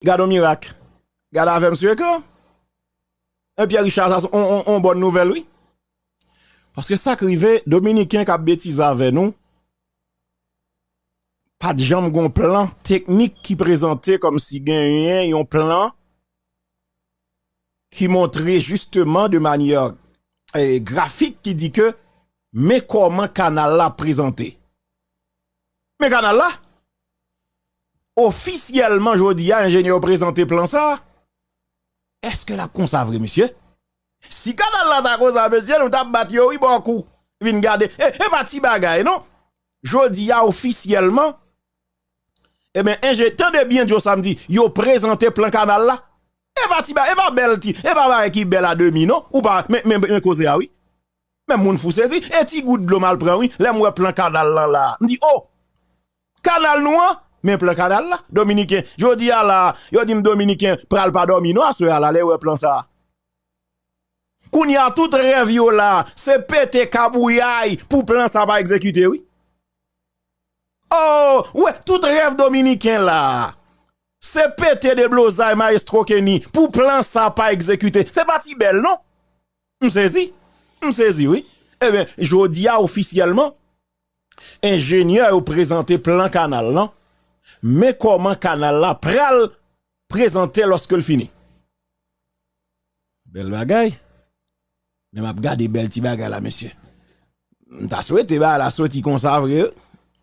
Gad on mirak! Gad avèm sou ekran! Hein Pierre Richard sa se on bòn nouvèl wi. Paske sak rive dominiken kap betize avè nou pat janm gon plan teknik ki prezante kòm si genyen yon plan ki montre jisteman de manyè grafik ki di ke men kòman kanal la prezante. Men kanal la! Ofisyèlman jodi a enjenyè yo prezante plan sa a. Eske l ap konsa vre mesye? Si kanal la ta konsa mesye nou t ap bat yo wi bò kou. Vin gade e pa ti bagay non. Jodi a ofisyèlman enben enje tande byen Djo sa m di yo prezante plan kanal la. E pa ti bagay e pa bèl ti e pa bagay ki bèl a demi non ou pa men koze a wi. Men moun fou sezi, e ti gout dlo m al pran wi, lè m wè plan kanal lan la a, m di, oh! Kanal nou an? Men plan kanal la? Dominiken, jodi a la a, yo di m Dominiken pral pa dòmi non aswè a la, lè yo wè plan sa a. Kounye a tout rèv yo la a, se pete kabouyay pou plan sa a pa egzekite wi. Oh! Ou wè, tout rèv Dominiken la a, se pete deblozay Maestro Kenny pou plan sa a pa egzekite. Se pa ti bèl non! M sezi, m sezi wi. Ebyen, jodi a ofisyèlman, enjenyè yo prezante plan kanal lan, men kòman kanal la pral prezante lòske l fini. Bèl bagay, men m ap gade bèl ti bagay la mesye. M ta swete bagay la soti konsa vre.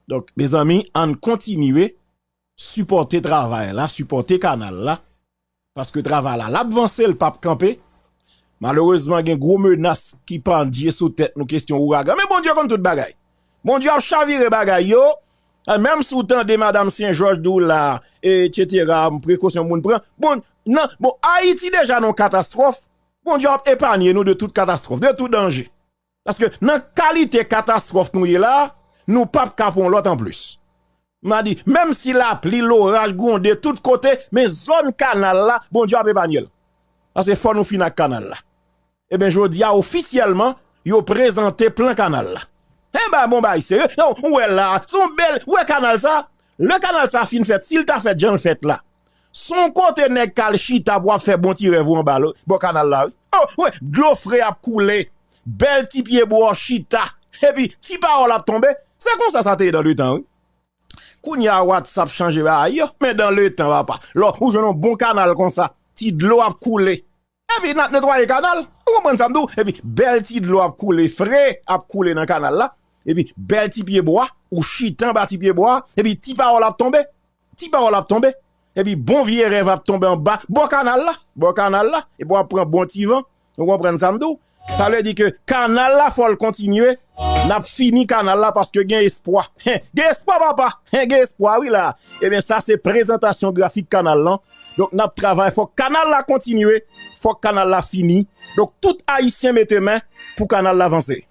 Donk, mezanmi, ann kontinye, sipòte travay la, sipòte kanal la, paske travay la lap vanse l pap kanpe malerezman gen gwo menas ki pandye sou tèt nou kesyon ouragan men Bondye konn tout bagay Bondye ap chavire bagay yo menm si w tande madam sen jòj di w la etsetera prekosyon moun pran bon nan bon ayiti deja nan yon katastwòf Bondye ap epanye nou de tout katastwòf de tout danje. Paske nan kalite katastwòf nou ye la, nou pa p ka pran yon lòt anplis. M a di, menm si lapli, loraj gwonde tout kote, men zòn kanal la, Bondye ap epanye l. Paske fò nou fin ak kanal la. Eben jodi a ofisyèlman, yo prezante plan kanal la. Enba bon bagay serye, ou wè la, son bèl, ou wè kanal sa, lè kanal sa fin fèt, si l ta fèt jan l fèt la, Son kote nèg kal chita pou ap fè bon ti rèv ou anba lo bò kanal la wi oh wi dlo fre ap koule bèl ti pye bwa chita epi ti pawòl ap tonbe se konsa sa te ye dan le tan wi kounya watsap chanje bagay yo men dan le tan papa lò ou jwenn yon bon kanal konsa ti dlo ap koule. Epi nap netwaye kanal, ou konprann sam di w, epi bèl ti dlo ap koule fre, ap koule nan kanal la, epi bèl ti pye bwa, ou chita anba ti pye bwa, epi ti pawòl ap tonbe, ti pawòl ap tonbe, epi bon vye rèv ap tonbe anba bò kanal la, bò kanal la, epi wap pran bon ti van, ou konprann sam di w, Sa vle di ke kanal la fòl kontinye nap fini kanal la paske gen espwa hen gen espwa papa hen gen espwa wi la ebyen sa se prezantasyon grafik kanal lan donk nap travay fòk kanal la kontinye fòk kanal la fini donk tout ayisyen mete men pou kanal la vanse.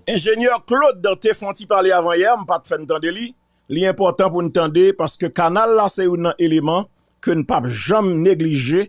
Enjenyè Claude te fon ti pale avan yè m pat fèn tande li, li enpòtan pou n tande paske kanal la se youn nan eleman ke n pap janm neglije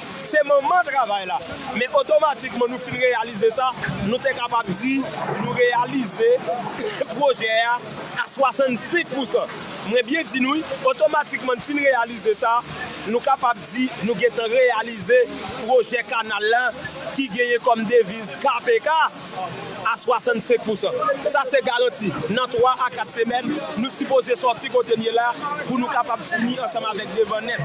Se manman travay la. Men otomatikman nou fin reyalize sa, nou te kapab di nou reyalize pwojè a a 65 pousan. Mwen byen di nou wi, otomatikman n fin reyalize sa, nou kapab di nou gentan reyalize pwojè kanal la ki genyen kòm deviz KPK. a 65 pousan. Sa se garanti, nan 3 a 4 semèn, nou sipoze sòti kote n ye la pou nou kapab fini ansanm avèk devan nèt.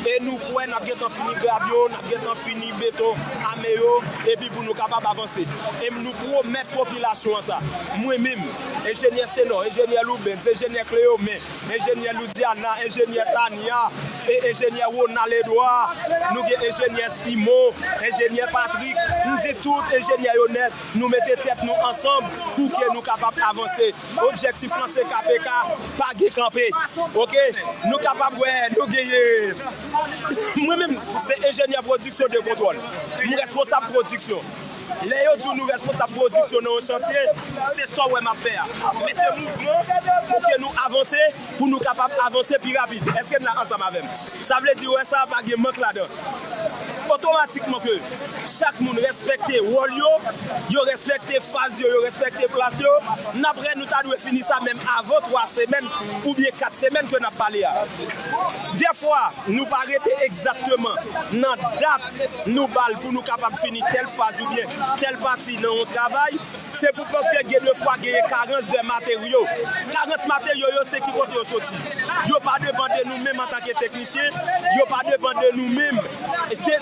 E nou kwè n ap gen tan fini grad yo, n ap gen tan fini beton ame yo, epi pou nou kapab avanse. E m nou pwomèt popilasyon an sa. Mwen menm, Enjenyè Senor, Enjenyè Loubens, Enjenyè Cléomé, Enjenyè Loudiana, Enjenyè Tania e Enjenyè Ronald Edouard. Nou gen Enjenyè Simon, Enjenyè Patrick. M di tout Enjenyè yo nèt, nou mete tèt nou ansanb pou ke nou kapab avanse. Objektif lan se KPK pa gen kanpe. Ok. Nou kapab wè nou genyen Mwen menm se Enjenyè Pwodiksyon de Kontwòl. M responsab pwodiksyon. Lè yo di w nou responsab pwodiksyon nan yon chantye, se sa w wè m ap fè a. Mete mouvman pou ke nou avanse, pou nou kapab avanse pi rapid. Eske n la ansanm avè m? Sa vle di wè sa a pa gen mank ladan. Otomatikman ke chak moun respekte wòl yo, yo respekte faz yo, yo respekte plas yo, n ap wè nou ta dwe fini sa menm avan 3 semèn oubyen 4 semèn ke n ap pale a. Dèfwa nou pa rete egzatteman nan dat nou ba l pou nou kapab fini tèl faz oubyen tèl pati nan yon travay, se pou paske gen de fwa genyen karans de materyo. Karans materyo yo se ki kote yo soti? Yo pa depan de nou menm antanke teknisyen, yo pa depan de nou menm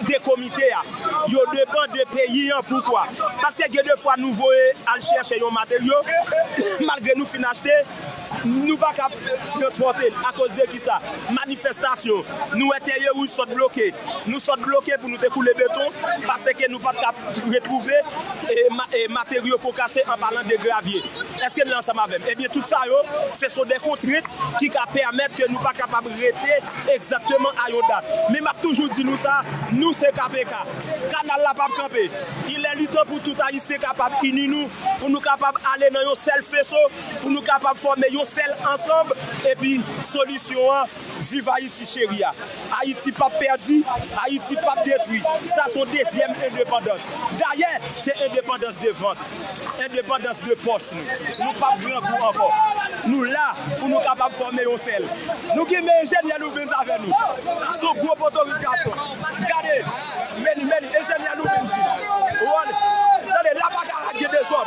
de komite a. Yo depan de peyi an. Poukwa? Paske gen de fwa nou voye al chèche yon materyo, malgre nou fin achte, Nou pa kab transpòte l akoz de kisa? Manifestasyon. Nou wè Tèrye Wouj sot bloke. Nou sot bloke pou nou te koule beton paseke nou pat kab retwouve materyo pou kase an palan de gravye. Eske n la ansanm avè m? Ebyen tout sa yo se son de kontrent ki ka pèmèt ke nou pa kapab rete egzakteman a yon dat. Men m ap toujou di nou sa, nou se kpk. Kanal la pap kanpe. Ilè litan pou tout Ayisyen kapab ini nou pou nou kapab ale nan yon sèl feso. pou nou kapab fòme yon sèl ansanb epi solisyon an viv Ayiti cheri a Ayiti pap pèdi Ayiti pap detwi sa son dezyèm endepandans dayè se endepandans de vant endepandans de pòch nou nou pap grangou ankò nou la pou nou kapab fòme yon sèl nou genmen enjenyè Loubens avè nou son gwo potorik gason gade meni meni enjenyè Loubens vini tande la baka a gen dezòd.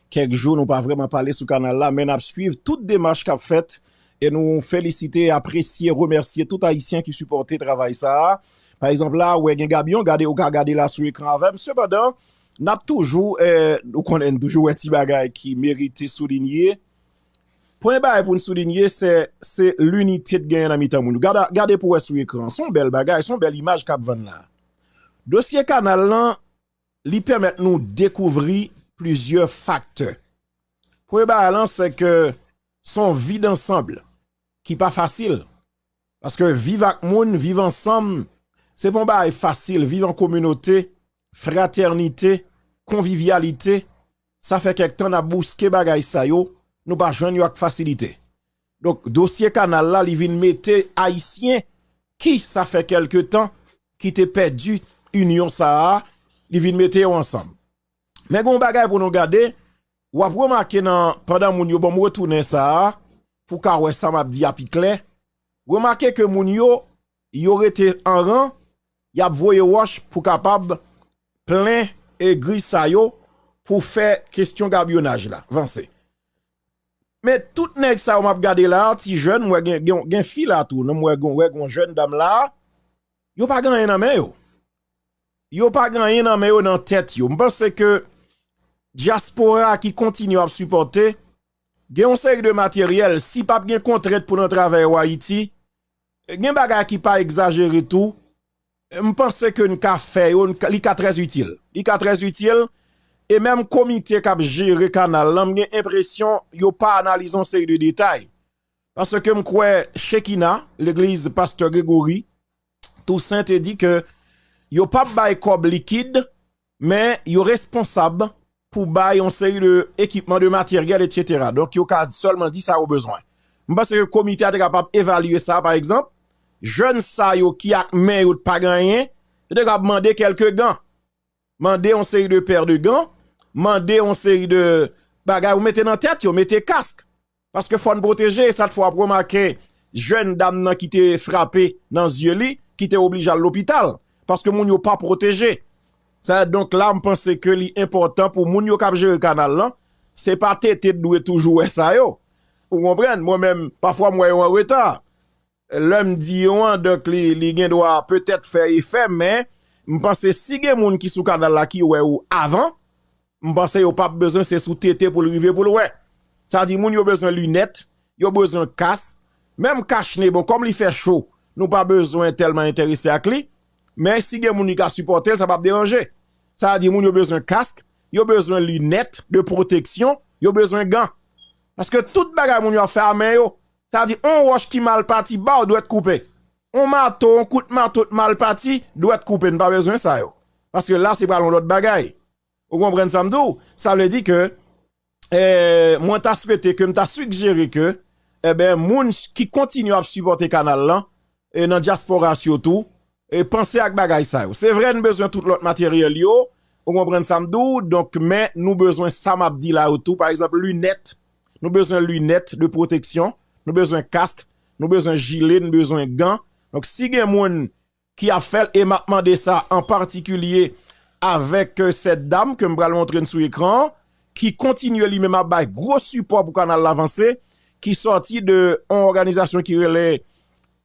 Kèk jou nou pa vrèman pale sou kanal la men nap swiv tout demach kap fèt e nou felisite, apresye, remèsye tout ayisyen ki sipòte travay sa a. Pa egzanp la ou wè gen Gabyon, gade ou ka gade la sou ekran avè m sepandan nap toujou ou konnen n toujou wè ti bagay ki merite soulinye. Premye bagay pou n soulinye se se linite t genyen nan mitan moun yo. Gade pou wè sou ekran an, s on bèl bagay, s on bèl imaj kap vann la a. Dosye kanal lan. Li pèmèt nou dekouvri plizyè faktè. Premye bagay lan se ke se yon vi dansanb ki pa fasil. Paske viv ak moun, viv ansanm, se pa yon bagay fasil. Viv an kominote, fratènite, konvivyalite, sa fè kèk tan n ap bouske bagay sa yo, nou pa jwenn yo ak fasilite. Donk dosye kanal la li vin mete ayisyen ki sa fè kèlke tan ki te pèdi inyon sa a li vin mete yo ansanm. Men gen yon bagay pou nou gade, w ap remake nan pandan moun yo ban m retounen sa a pou w ka wè sa m ap di a pi klè, remake ke moun yo yo rete an ran y ap voye wòch pou kapab plen egri sa yo pou fè kestyon gabyonaj la vanse. Men tout nèg sa yo map gade la a ti jèn mwen gen fi la tou nan mwen gen yon jèn dam la a yo pa gen anyen nan men yo yo pa gen anyen nan men yo nan tèt yo m panse ke diaspora ki kontinye ap sipòte gen yon seri de materyèl si pap gen kontrent pou nan travè yo ayiti gen bagay ki pa egzajere tou M panse ke n ka fè yo, li ka trè itil. Li ka trè itil, e menm komite k ap jere kanal lan, m gen enpresyon yo pa analize yon seri de detay. Paske m kwè Chekina, legliz pastè Grégory Toussaint te di ke yo p ap bay kòb likid Men yo responsab pou bay yon seri de ekipman, de materyèl etc. Donk yo ka sèlman di sa yo bezwen. M panse ke komite a te kapab evalye sa pa egzanp, jèn sa yo ki ak men yo t pa gen anyen, yo te kapab mande kèlke gan, mande yon seri de pè de gan, mande yon seri de bagay pou mete nan tèt yo, mete kask. Paske fòn pwoteje sa t fè wap remake jèn dam nan ki te frape nan zye li ki te oblije al lopital paske moun yo pa pwoteje sa donk la m panse ke li enpòtan pou moun yo kap jere kanal lan se pa TT t dwe toujou wè sa yo ou konprann mwen menm pafwa m wè yo an reta Lè m di yo an, donk li gen dwa petèt fè efè, men m panse si gen moun ki sou kanal la ki wè ou avan, m panse yo pap bezwen se sou tete pou l rive pou l wè. Sa di moun yo bezwen linèt, yo bezwen kas, menm kach ne, bon kòm li fè cho, nou pa bezwen tèlman enterese ak li, men si gen moun ki ka sipòte l, sa pap deranje. Sa di moun yo bezwen kask, yo bezwen linèt de pwoteksyon, yo bezwen gan. Paske tout bagay moun yo ap fè a men yo. Sa di on wòch ki mal pati baw dwèt koupe. On mato, on kout mato t mal pati, dwèt koupe. Nou pa bezwen sa yo. Paske la se pral on lòt bagay. Ou konprann sa m di w? Sa vle di ke mwen ta swete ke m ta sigjere ke moun ki kontinye ap sipòte kanal lan e nan diasporas yo tou e panse ak bagay sa yo se vre n bezwen tout lot materiel yo ou konprann sa m di w donk men nou bezwen sa map di la yo tou pa egzanp lunet nou bezwen lunet de proteksyon nou bezwen kask nou bezwen jile nou bezwen gan donk si gen moun ki ap fèl e map mande sa an patikilye avek set dam ke m pral montre n sou ekran ki kontinye li menm ap bay gwo sipò pou kanal la vanse, ki sòti de yon òganizasyon ki rele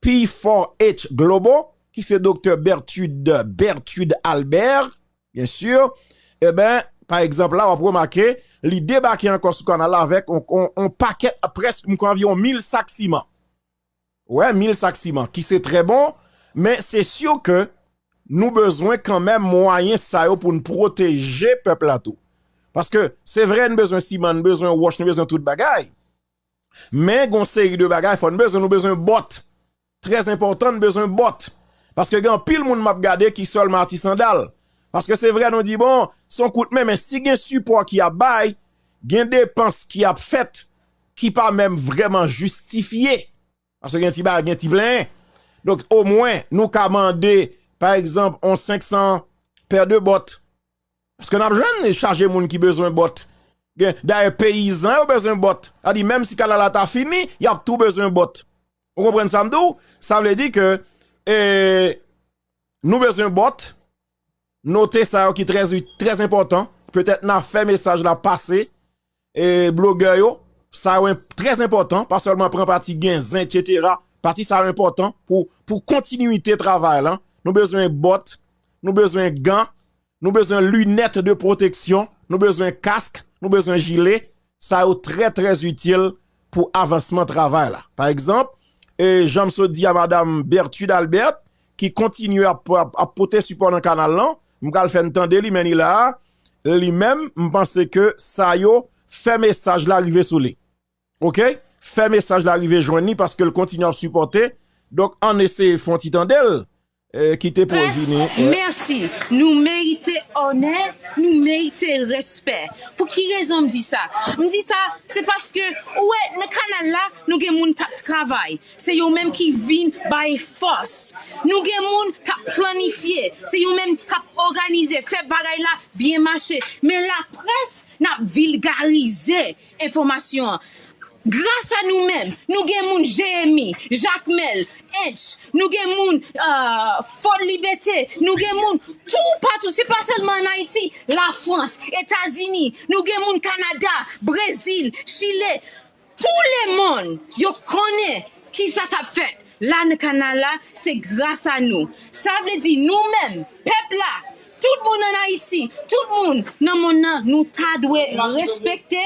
P4H Global, ki se Doktè Berthude, Berthude Albert, byen sur, e ben, pa egzanp la, w ap remake, li debake ankò sou kanal la avèk yon pakèt, prèsk, m kwè anviwon 1000 sak siman. Wè 1000 sak siman ki se trè bon men se sur ke nou bezwen kanmenm mwayen sa yo poun pwoteje pèp la tou. Paske se vre n bezwen siman, n bezwen wòch, n bezwen tout bagay men gon seri de bagay fòn bezwen, nou bezwen bòt trè enpòtan n bezwen bòt paske gen anpil moun map gade ki sèlman ati sandal paske se vre nou di bon son kout men men si gen sipò ki ap bay gen depans ki ap fèt ki pa menm vrèman jistifye, paske gen ti bagay, gen ti plenyen, donk omwen nou ka mande, pa egzanp, yon 500 pè de bòt, paske nap jwenn chaje moun ki bezwen bòt, dayè peyizan yo bezwen bòt, sa di menm si kanal la ta fini, yap tou bezwen bòt, ou konprann sa m di w, sa vle di ke, ee, nou bezwen bòt, Note sa yo ki trè zi, trè enpòtan, petèt na fè mesaj la pase e blogè yo, sa yo trè enpòtan, pa sèlman pran pati gen zen etsetera, pati sa yo enpòtan pou pou kontinite travay lan, nou bezwen bòt, nou bezwen gan, nou bezwen linèt de pwoteksyon, nou bezwen kask, nou bezwen jile, Sa yo trè trè itil pou avansman travay la. Pa egzanp, jan m sot di a madam Berthude Albert ki kontinye ap pote sipò nan kanal lan, m pral fè n tande li men ni la a, li menm m panse ke sa yo fè mesaj la rive sou li. Ok, fè mesaj la rive jwenn li paske l kontinye ap sipòte, donk ann eseye fon ti tande l Pres, Mèsi! Nou merite onè, nou merite respè. Pou ki rezon m di sa? M di sa, se paske ou wè nan kanal la, nou gen moun k ap travay, se yo menm ki vin bay fòs. Nou gen moun k ap planifye, se yo menm k ap òganize, fè bagay la byen mache. Men laprès, n ap vilgarize Enfòmasyon an. Gras a nou menm, nou gen moun Jeyemi, Jakmèl, Ench, nou gen moun Fort Libete, nou gen moun toupatou, se pa sèlman ann Ayiti, Lafrans, Etazini, nou gen moun Kanada, Brezil, Chile, tou lemonn yo konnen ki sa k ap fèt. La n Kanala se gras a nou. Sa vle di nou menm, pèp la, tout moun ann Ayiti, tout moun nan monn nan nou ta dwe respekte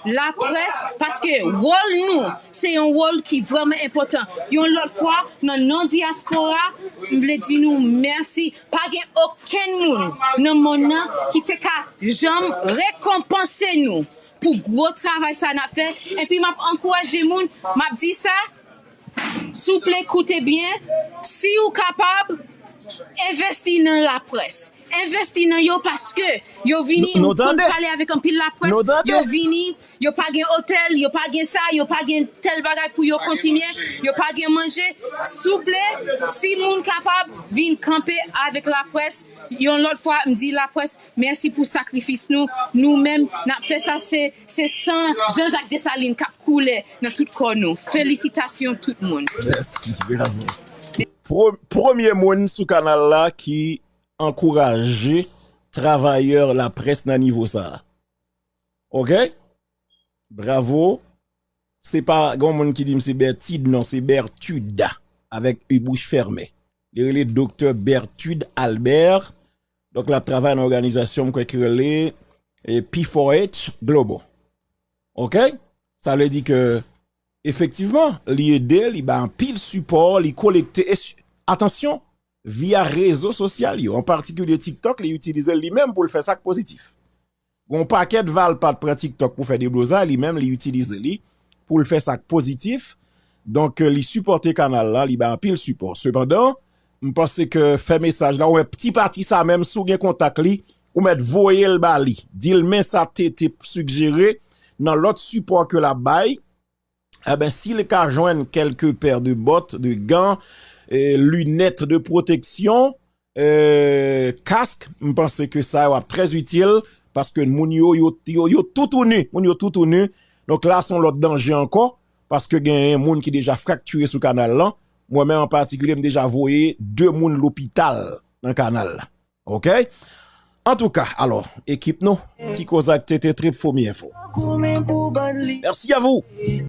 laprès paske wòl nou se yon wòl ki vrèman enpòtan. Yon lòt fwa, nan non dyaspora, m vle di nou mèsi. Pa gen okenn moun nan monn nan ki te ka janm rekonpanse nou pou gwo travay sa n ap fè. Enpi m ap ankouraje moun, m ap di sa, Souple koute byen, si ou kapab, envesti nan laprès. Envesti nan yo paske yo vini konn pale avèk anpil laprès, yo vini, yo pa gen otèl, yo pa gen sa, yo pa gen tèl bagay pou yo kontinye, yo pa gen manje. Souple, si moun kapab, vin kanpe avèk laprès. Yon lòt fwa, m di laprès, Mèsi pou sakrifis nou, nou menm nap fè sa se se san Jean Jacques Dessalines kap koule nan tout kò nou. Felisitasyon tout moun. Mèsi bravo. Premye moun sou kanal la ki ankouraje travayè laprès nan nivo sa a. Ok. Bravo. Se pa gon moun ki dim se Bertide non se Berthude avèk u bouch fèmen. Li rele Doktè Berthude Albert. Donk l ap travay nan òganizasyon m kwè ki rele P4H Global. Ok? Sa vle di ke efektivman li ede, li bay anpil sipò, li kolekte. Atansyon, via rezo sosyal yo, an patikilye TikTok li itilize li menm pou l fè sa k pozitif. Gon pakèt valpat pran tiktok pou fè deblozay li menm li itilize li poul fè sak pozitif donk li sipòte kanal la li bay anpil sipò sepandan m panse ke fè mesaj la ou wè ti pati sa menm si w gen kontak li ou mèt voye l ba li di l men sa TT sugjere nan lòt sipò ke lap bay. Enben si l ka jwenn kèlke pè de bòt, de gan, linèt de pwoteksyon, kask, m panse ke sa yo ap trè itil, paske moun yo, yo toutouni, moun yo toutouni, donk la son lòt danje ankò, paske gen moun ki deja fraktire sou kanal lan, mwen menm an patikilye m deja voye 2 moun lopital nan kanal la, ok. Antouka, alò, ekip nou, ti kozak tete trip fomi enfo. Merci à vous!